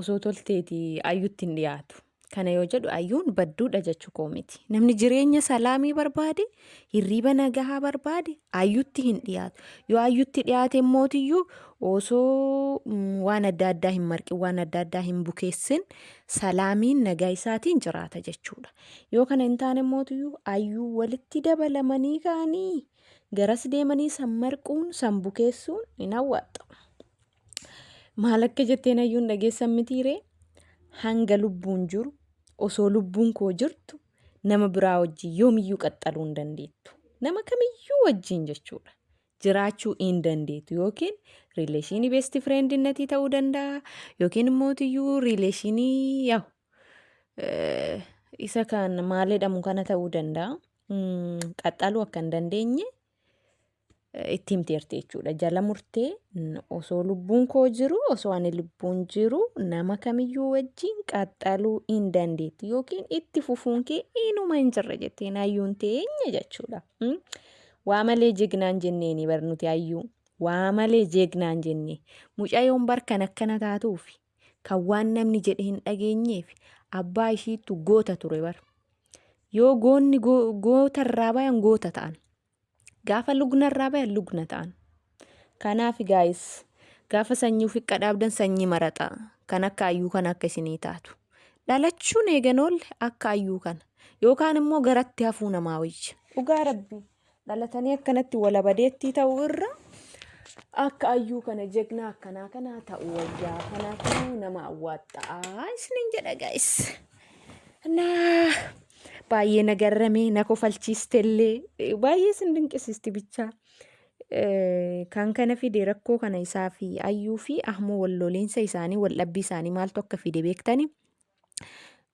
osoo tolteeti ayyutti hin dhiyaatu. Kana yoo jedhu ayyuun badduudha jechuu koo miti. Namni jireenya salaamii barbaade, hirriiba nagahaa barbaade ayyutti hin dhiyaatu. Yoo ayyutti dhiyaate mootiyyuu osoo mm, waan adda addaa hin marqin, waan adda addaa hin bukeessin salaamiin nagaa isaatiin jiraata jechuudha. Yoo kana hin taane mootiyyuu ayyuu walitti dabalamanii ka'anii garas deemanii san marquun, san bukeessuun hin hawwaxxu. Maal akka jetteen hayyuun dhageessan mitiiree hanga lubbuun jiru osoo lubbuun koo jirtu nama biraa wajjin yoomiyyuu qaxxaluu hin dandeettu. Nama kamiyyuu wajjin jechuudha. Jiraachuu hin dandeettu yookiin riileeshinii beesti fireendiinnatii ta'uu danda'a yookiin immoo tiyyuu riileeshinii yaa'u eh, isa kan maal jedhamu kana ta'uu danda'a. Mm, Qaxxaluu akka hin dandeenye itti himteerti jechuudha. Jala murtee osoo lubbuun koo jiru osoo ani lubbuun jiru nama kamiyyuu wajjin qaxxaluu hin dandeetti yookiin itti fufuun kee inuma hin jirre jetteen hayyuun teenya jechuudha. Waa malee jegnaan jenneeni bar nuti hayyuu. Waa malee jegnaan jenne. Mucayyoon bar kan akkana taatuuf kan waan namni jedhe hin dhageenyeef abbaa ishiittu goota ture bar. Yoo goonni gootarraa bayan goota ta'an. Gaafa lugna irraa bayan lugna ta'an. Kanaaf gaayis gaafa sanyii ofii qadhaabdan sanyii maraxa kan akka ayyuu kana akka isinii taatu. Dhalachuun eegan oolle akka ayyuu kana yookaan immoo garatti hafuu namaa wayya. Dhugaa rabbi dhalatanii akkanatti walabadeettii ta'uu irra akka ayyuu kana jegnaa akkanaa kanaa ta'uu wayyaa. Kanaafuu nama awwaaxxa'aa isiniin jedha gaayis. Naa baay'ee na garrame na kofalchiistellee eh, baay'ee sin dinqisiisti bichaa. Eh, Kan kana fide rakkoo kana isaa fi ayyuu fi ahmoo wal loliinsa isaanii wal dhabbii isaanii maaltu akka fide beektani.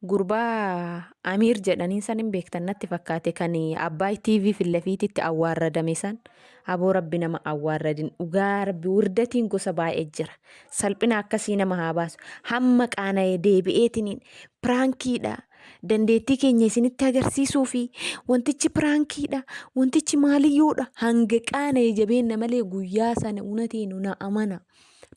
Gurbaa Amiir jedhaniin san hin beektan natti fakkaate kan Abbaay TV fillafiititti awwaarradame san Aboo rabbi nama awwaarradin dhugaa rabbi wirdatiin gosa baay'e jira salphina akkasii nama haa baasu hamma qaana'e deebi'eetiniin piraankiidha dandeettii keenya isinitti agarsiisuu fi wantichi piraankiidha wantichi maaliyyuudha hanga qaana'e jabeenna malee guyyaa sana unateenu na amanaa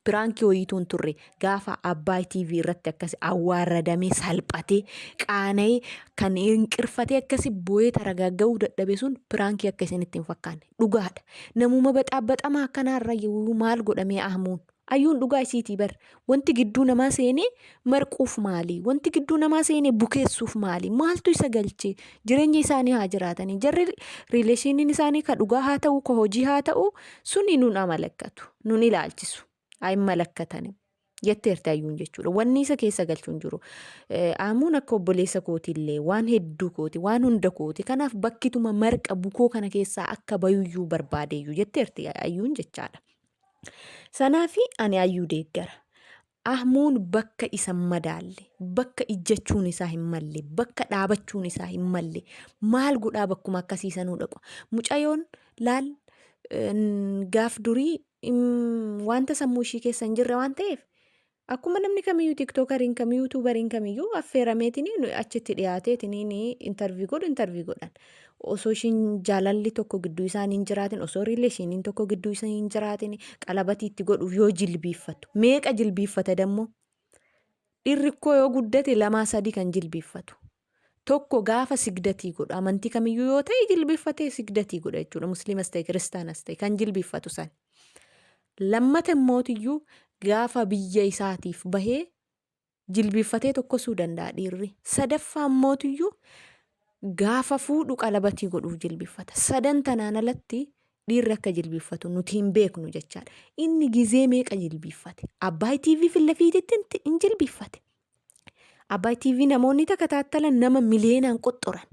Piraankii wayiitu hin turre gaafa Abbaay TV irratti akkasi awwaarradamee salphatee qaana'ee kan hinqirfatee akkasi boo'ee taragaaga'uu dadhabe sun piraankii akka isinitti hin fakkaanne dhugaadha. Namuma baxaabaxamaa akkanaarra maal godhamee ahmuun. Ayyuun dhugaa isiitii bar wanti gidduu namaa seenee marquuf maali? Wanti gidduu namaa seene bukeessuuf maali? Maaltu isa galche? Jireenya isaanii haa jiraatanii. Jarri riileeshiniin isaanii ka dhugaa haa ta'u, ka hojii haa ta'u, suni nun amalakkatu, nun ilaalchisu. Ayi malakkatani. Jetteerti ayyuun jechuudha. Wanni isa keessa galchu hin jiru. Aamuun akka obboleessa kootiillee waan hedduu kooti, waan hunda kooti. Kanaaf bakkituma marqa bukoo kana keessaa akka bayuyyuu barbaadeeyyuu jetteerti ayyuun jechaadha. Sanaafi ani ayyuu deeggara. Ahmuun bakka isa hin madaalle, bakka ijjachuun isaa hin malle, bakka dhaabachuun isaa hin malle maal godhaa bakkuma akkasii sanuu dhaqu. Mucayoon laal gaaf durii wanta sammuu ishii keessa hin jirre waan ta'eef akkuma namni kamiyyuu tiktokariin kam yuutuubariin kamiyyuu affeerameetiin achitti dhiyaateetiin intarvii godhu intarvii godhan. osoo ishiin jaalalli tokko gidduu isaanii hin jiraatin osoo riileeshiniin tokko gidduu isaanii hin jiraatin qalabatii itti godhuuf yoo jilbiiffatu meeqa jilbiiffata dammoo dhirrikkoo yoo guddate lamaa sadii kan jilbiiffatu tokko gaafa sigdatii godhu amantii kamiyyuu yoo ta'e jilbiiffatee sigdatii godha jechuudha musliimas ta'e kiristaanas ta'e kan jilbiiffatu san lammata immootiyyuu gaafa biyya isaatiif bahee jilbiiffatee tokkosuu danda'a dhiirri. Sadaffaa immootiyyuu gaafa fuudhu qalabatii godhuuf jilbiiffata. Sadan tanaan alatti dhiirri akka jilbiiffatu nuti hin beeknu jechaadha. Inni gizee meeqa jilbiiffate? Abbaay TV fille fiititti hin jilbiiffate. Abbaay TV namoonni takka taattalan nama miliyoonaan qoxxoran.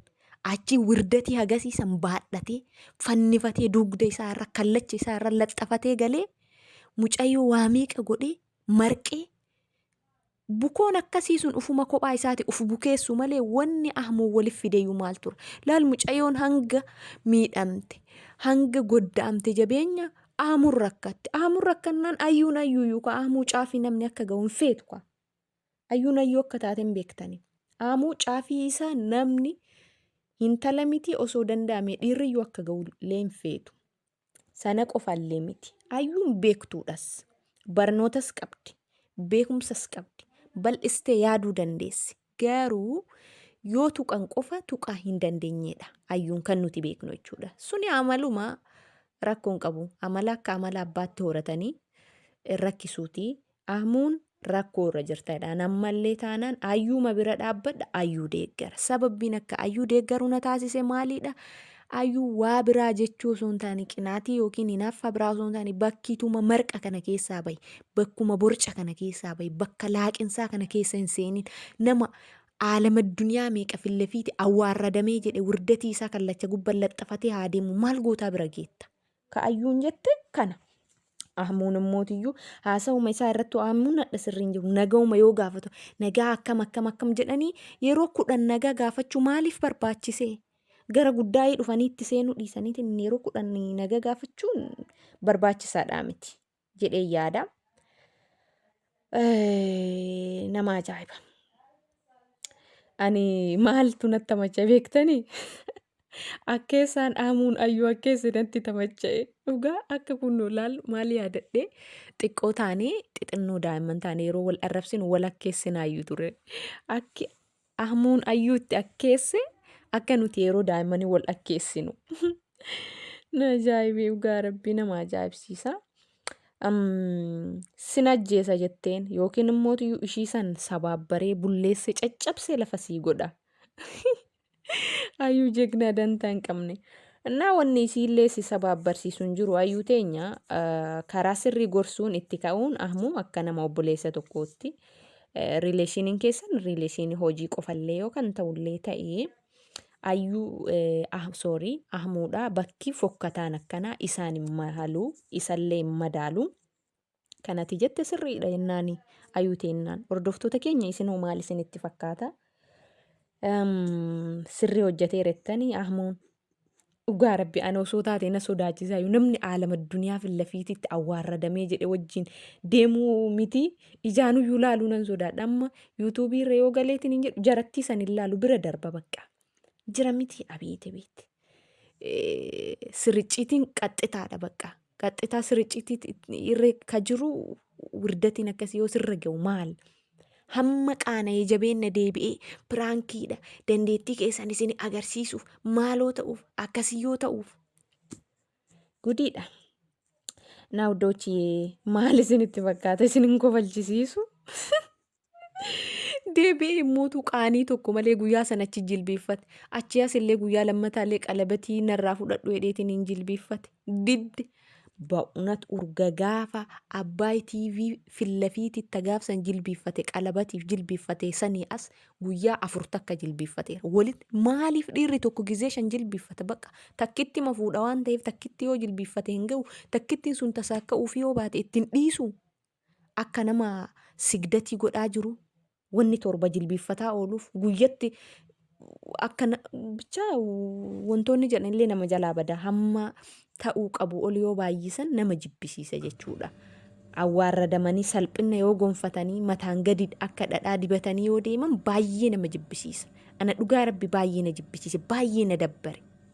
Achi wirdatii hagasiisan baadhatee fannifatee dugda isaa irra kallacha isaa irra laxxafatee galee mucayyoo waa meeqa godhee marqee bukoon akkasii sun ufuma kophaa isaati uf bukeessu malee wanni ahmuun walif fideeyyuu maal ture laal mucayoon hanga miidhamte hanga goddaamte jabeenya ahmuun rakkatte ahmuun rakkannaan ayyuun ayyuuyyuu ka ahmuu caafii namni akka ga'u hin feetu ka ayyuun ayyuu akka taate hin beektani ahmuu caafii isaa namni hintala mitii osoo danda'ame dhiirriyyuu akka ga'u illee hin feetu Sana qofallee miti. Ayyuun beektuudhas. Barnootas qabdi. Beekumsas qabdi. Bal'istee yaaduu dandeessi. Garuu yoo tuqan qofa tuqaa hin dandeenyedha. Ayyuun kan nuti beeknu jechuudha. Suni amaluma rakkoon qabu. Amala akka amala abbaatti horatanii rakkisuuti. Ahmuun rakkoo irra jirta jedhaan ammallee taanaan ayyuuma bira dhaabbadha ayyuu deeggara sababbiin akka ayyuu deeggaru na taasise maaliidha ayyuu waa biraa jechuu osoo hin taane qinaatii yookiin hinaaffaa biraa osoo hin taane bakkiituma marqa kana keessaa bahi bakkuma borca kana keessaa bahi bakka laaqinsaa kana keessa hin seenin nama aalama duniyaa meeqa fillefiiti awwaarradamee jedhe wirdatii isaa kallacha gubban laxxafatee haa deemu maal gootaa bira geetta Ka ayyuun jette kana. Ahmuun immootiyyuu haasawuma isaa irratti ahmuun hadha sirrii hin jiru. Nagawuma yoo gaafatu nagaa akkam akkam akkam jedhanii yeroo kudhan nagaa gaafachuu maaliif barbaachisee? Gara guddaa'ii dhufanii itti seenuu dhiisaniitiin yeroo kudhan nagaa gaafachuun barbaachisaadhaa miti. jedhee yaada. Nama ajaa'iba. Ani maaltu natti tamacha beektanii? Akkeessaan dhaamuun ayyuu akkeessi natti tamacha'e. Dhugaa akka kun laalu maal yaadadhe xiqqoo taanee xixinnoo daa'imman taanee yeroo wal arrabsinu wal akkeessinaayyuu ture. Akki Ahmuun ayyuu itti akkeesse akka nuti yeroo daa'immanii wal akkeessinu. Na ajaa'ibee dhugaa rabbii nama ajaa'ibsiisa. Am, Sin ajjeesa jetteen yookiin immoo iyyuu ishii san sabaabbaree bulleessee caccabsee lafa sii godha. Ayyuu jegnaa dantaa hin qabne. Innaa wanni isiillee si sabaabbarsiisu hin jiru ayyuu teenya ah, karaa sirrii gorsuun itti ka'uun ahmuu akka nama obboleessa tokkootti Rileeshiniin keessan rileeshinii hojii qofallee yoo kan ta'ullee ta'ee ayyuu ah sorry ahmuudha bakki fokkataan akkanaa isaan hin mahalu isallee hin madaalu kanati jette sirriidha jennaani ayuu teennaan hordoftoota keenya isinoo maal isinitti fakkaata sirrii hojjetee rettanii ahmuun Dhugaa rabbi ana osoo taate na sodaachisaayu namni aalama duniyaa fi lafiititti awwaarradamee jedhe wajjin deemuu miti ijaanuyyuu laaluu nan sodaadha amma yuutuubii irra yoo galeetiin hin jedhu jarattii san hin laalu bira darba bakka jira miti abeete beete sirricciitiin qaxxitaadha bakka qaxxitaa siricciitti irra ka jiru wirdatiin akkasii yoo sirra ga'u maal? Hamma qaana'ee jabeenna deebi'ee piraankiidha dandeettii keessan isin agarsiisuuf maaloo ta'uuf akkasii yoo ta'uuf gudiidha. Naa huddochiyee maal isinitti fakkaata isin hin kofalchisiisu? Deebi'ee immootu qaanii tokko malee guyyaa sana achi jilbiiffate. Achi as illee guyyaa lammataa illee qalabatii narraa fudhadhu jedheetiin hin jilbiiffate. Didde. Ba'unat urga gaafa Abbaay TV fillafiiti itti gaafsan jilbiiffate qalabatiif jilbiiffate sanii as guyyaa afur takka jilbiiffate. Walitti maaliif dhiirri tokko gizee shan jilbiiffata baqa takkitti ma fuudha waan ta'eef takkitti yoo jilbiiffate hin ga'u takkittiin sun tasaakka'uuf yoo baate ittiin dhiisu akka nama sigdatii godhaa jiru wanni torba jilbiiffataa ooluuf guyyatti akka na- bichaa wantoonni jedhan illee nama jalaa bada hamma ta'uu qabu ol yoo baay'isan nama jibbisiisa jechuudha. Awwaarradamanii salphina yoo gonfatanii mataan gadi akka dhadhaa dibatanii yoo deeman baay'ee nama jibbisiisa. Ana dhugaa rabbi baay'ee na jibbisiise baay'ee na dabbare.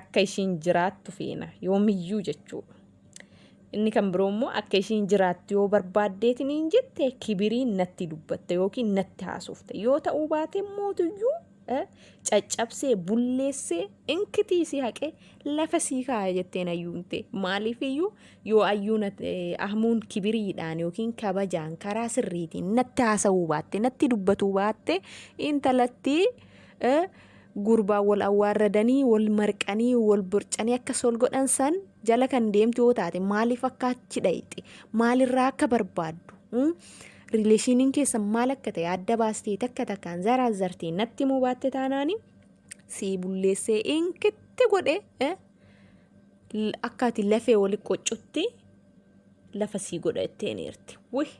Akka ishiin jiraattu feena. Yoomiyyuu jechuudha. Inni kan biroo immoo akka ishiin jiraattu yoo barbaaddeetiin hin jette kibiriin natti dubbatta yookiin natti haasofta. Yoo ta'uu baate mootuyyuu caccabsee bulleessee inkitii si haqee lafa sii kaaya jetteen ayyuun tee. Maaliifiyyuu yoo ayyuun ahmuun kibiriidhaan yookiin kabajaan karaa sirriitiin natti haasa'uu baatte natti dubbatuu baatte intalatti Gurbaan wal awwaarradanii, wal marqanii, wal borcanii akkas wal godhan san jala kan deemtu yoo taate maaliif akka achi dhayxe, maalirraa akka barbaaddu, rileeshiniin keessan maal akka ta'e adda baastee takka takkaan zaraazzartee natti himuu baatte taanaani sii bulleessee inkitti godhe. akka ati lafee wali qoccutti lafa sii godha jetteen eerti. Wih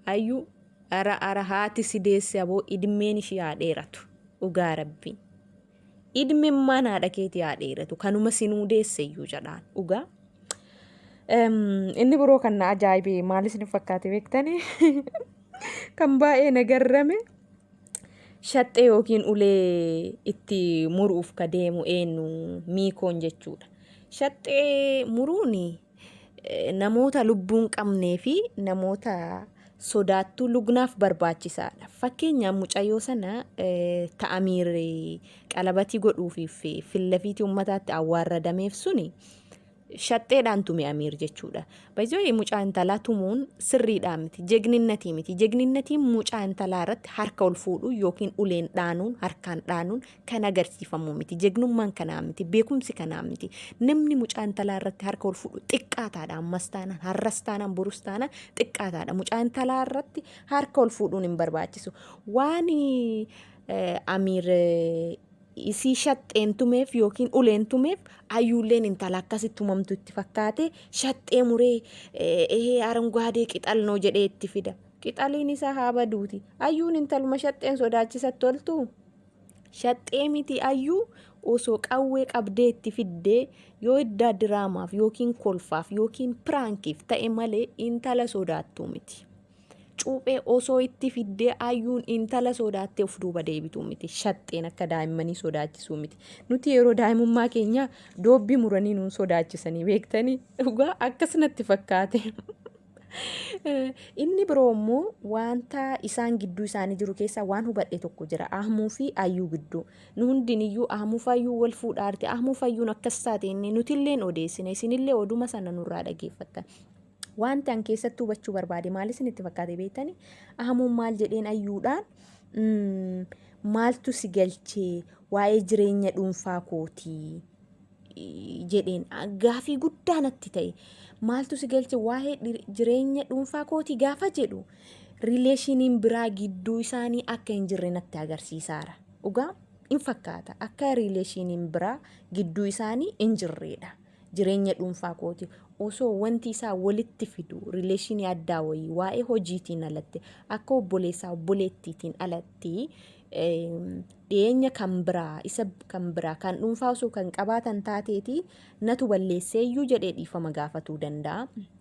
ayyuu ara ara haati si deesse aboo idmeen ishii haa dheeratu dhugaa rabbiin. Idmeen maan haadha keetii haa dheeratu kanuma sinuu deesse iyyuu jedhaan dhugaa. Inni biroo kan na ajaa'ibee maal isin fakkaate beektanii? Kan baay'ee na garrame. Shaxxee yookiin ulee itti muruuf ka deemu eenyu miikoon jechuudha. Shaxxee muruun namoota lubbuun qabnee fi namoota sodaattuu lugnaaf barbaachisaadha. Fakkeenyaaf mucayyoo sana ta'amiir qalabatii godhuufiif fillafiitii uummataatti awwaarradameef suni shaxxeedhaan tume Amiir jechuudha. Baay'ee mucaa intalaa tumuun sirriidhaa miti. Jegninnatii miti. Jegninnatiin mucaa intalaa irratti harka ol fuudhuu yookiin uleen dhaanuun harkaan dhaanuun kan agarsiifamu miti. Jegnummaan kanaa miti. Beekumsi kanaa miti. Namni mucaa intalaa irratti harka ol fuudhu xiqqaataadha. Ammas taanaan har'as taanaan borus taanaan xiqqaataadha. Mucaa intalaa irratti harka ol fuudhuun hin barbaachisu. Waan Amiir isii shaxxeen tumeef yookiin uleen tumeef ayyuulleen intala akkasi tumamtu itti fakkaate shaxxee muree ehee aranguwaadee qixal noo jedhee itti fida qixaliin isaa haa baduuti ayyuun intaluma shaxxeen sodaachisatti oltu shaxxee miti ayyuu osoo qawwee qabdee itti fiddee yoo iddaa diraamaaf yookiin kolfaaf yookiin piraankiif ta'e malee intala sodaattuu miti. cuuphee osoo itti fiddee ayyuun intala sodaattee of duuba deebituu miti. Shaxxeen akka daa'immanii sodaachisuu miti. Nuti yeroo daa'imummaa keenyaa doobbii muranii nuun sodaachisanii beektanii dhugaa akkas natti fakkaate. Inni biroo immoo wanta isaan gidduu isaanii jiru keessaa waan hubadhe tokko jira. Ahmuu fi ayyuu gidduu. Nu hundiniyyuu ahmuu fi ayyuu wal fuudhaa jirti. Ahmuu fi ayyuun akkas taate inni nutilleen odeessine isinillee oduma sana nurraa dhageeffattan. Wanti an keessatti hubachuu barbaade maal isinitti fakkaate beektani? Ahamuun maal jedheen ayyuudhaan mm, maaltu si galchee waa'ee jireenya dhuunfaa kootii i- jedheen A- gaafii guddaa natti ta'e. Maaltu si galche waa'ee dhir- jireenya dhuunfaa kootii gaafa jedhu rileeshiniin biraa gidduu isaanii akka hin jirre natti agarsiisaara. Dhugaa in fakkaata akka rileeshiniin biraa gidduu isaanii hin jirreedha. jireenya dhuunfaa kooti osoo wanti isaa walitti fidu rileeshinii addaa wayii waa'ee hojiitiin alatti akka obboleessaa obboleettiitiin alatti dhiyeenya kan biraa isa kan biraa kan dhuunfaa osoo kan qabaatan taateeti natu balleesseeyyuu jedhee dhiifama gaafatuu danda'a.